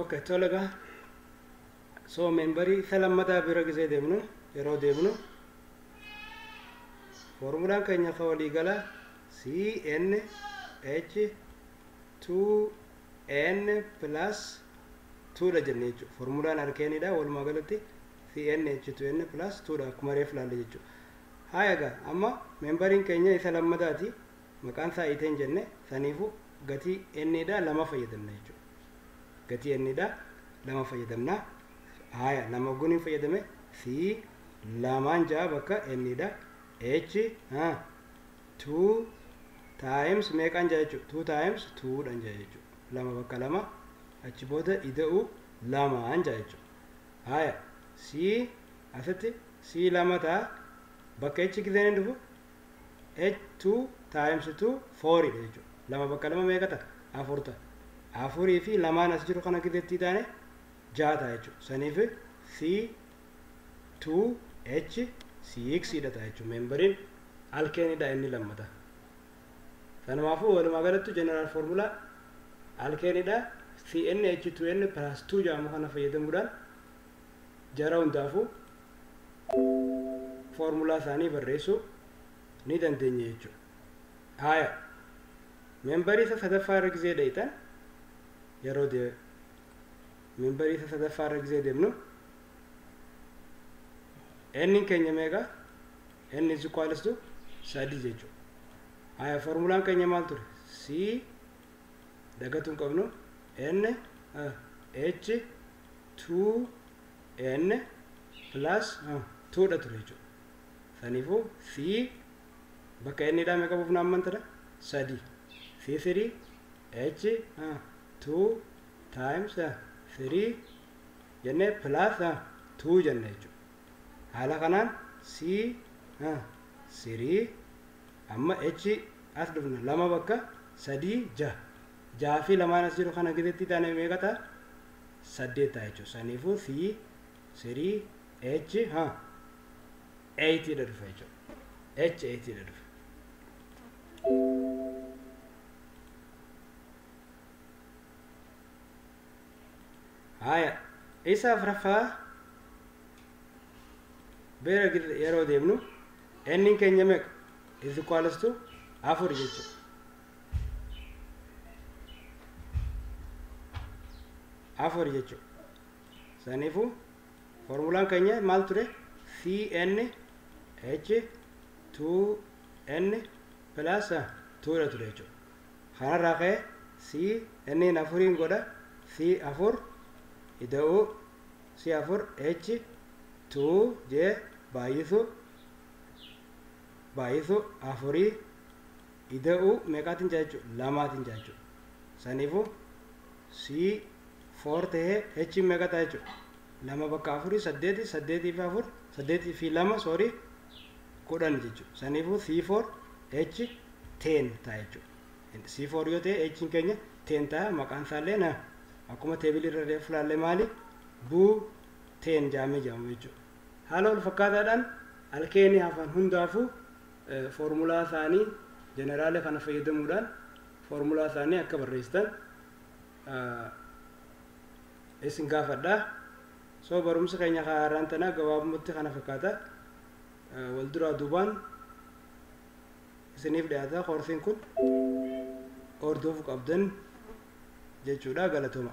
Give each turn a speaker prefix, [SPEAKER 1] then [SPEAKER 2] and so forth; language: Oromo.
[SPEAKER 1] okay tola egaa so membarii isa lammataa bira gisee deemnu yeroo deemnu foormulaan keenya ka walii galaa CNH 2N plus 2 dha jenne jechuudha. Formulaan arkeenii dha walumaa galatti CNH 2N plus 2 dha akkuma reef laalle jechuudha. Haaya egaa amma meembariin keenya isa lammataati maqaan isaa iteen jenne saniifu gatii N dha lama fayyadamna jechuudha. Gatii N dha lama fayyadamna. Haaya lama ogguun hin fayyadame C lamaan ja'a bakka N dha H 2 times meeqan jaa jechuudha 2 times 2 dhan jaa jechuudha lama bakka lama achi booda ida'u lamaan jaa jechuudha haya c asitti c lama ta'a bakka h gizeen hin dhufu h 2 times 2 4 dha jechuudha lama bakka lama meeqa ta'a afur ta'a afurii fi lamaan as jiru kana gizeetti taane jaa ta'a jechuudha saniif c 2H 6 dha ta'a jechuun meembariin alkeenii dha inni lammata. Sanumaafuu walumaa galattu jeneraal foormulaa alkeenii dha CnH2n plus 2 jedhamu kana fayyadamuudhaan jara hundaafuu foormulaa isaanii barreessuu ni dandeenya jechuudha. Haaya meembarii isa sadaffaa irra gizee dhayitan yeroo Membarii isa sadaffaa irra gizee demnu n keenya meeqa n is equals to sadii jechuudha. Haya formulaan keenya maal ture? C dagatu hin qabnu n h 2 n plus 2 dha ture jechuudha. Saniifuu C bakka n dhaa meeqa buufna ammantadha? Sadii. C3 h 2 times 3 jennee plus 2 jenna jechuudha. Haala kanaan C 3 amma H as dhufna lama bakka sadii jaha. Jaha fi lamaan as jiru kana gizetti taane meeqa ta'a? Saddeet ta'a jechuudha. Saniifuu C 3 H 8 dha dhufa jechuudha. H 8 dha dhufa. haaya isa afraffaa beera gidda yeroo deemnu enniin keenya meeqa is equals to afur jechuudha afur jechuudha saniifuu formulaan keenya maal ture cn h 2n plus 2 dha ture jechuudha Kanarraa ka'e CNn afuriin godha C 4 Ida'uu C 4 H 2 J Baay'isuu Baay'isuu afurii Ida'uu meeqaatiin ja'a jechuudha? Lamaatiin ja'a jechuudha. Saniifuu C 4 ta'ee H meeqa ta'a jechuudha? Lama bakka afurii saddeeti saddeetii fi afur saddeetii fi lama soorii kudhan jechuudha. Saniifuu C 4 H teen ta'a jechuudha. C4 yoo ta'e H'n keenya teen ta'a maqaan isaallee na akkuma teebilii irra reefu laallee maali buu teen jaamee jaamama jechuudha. Haala wal fakkaataadhaan alkeenii hafan hundaafuu foormulaa isaanii jeneraala kana fayyadamuudhaan foormulaa isaanii akka barreessitan isin gaafadha. So barumsa keenya haaraan tanaa gabaabumatti kana fakkaata. Wal duraa duubaan isiniif dhiyaata koorsiin kun hordofu qabdan jechuudha galatoma.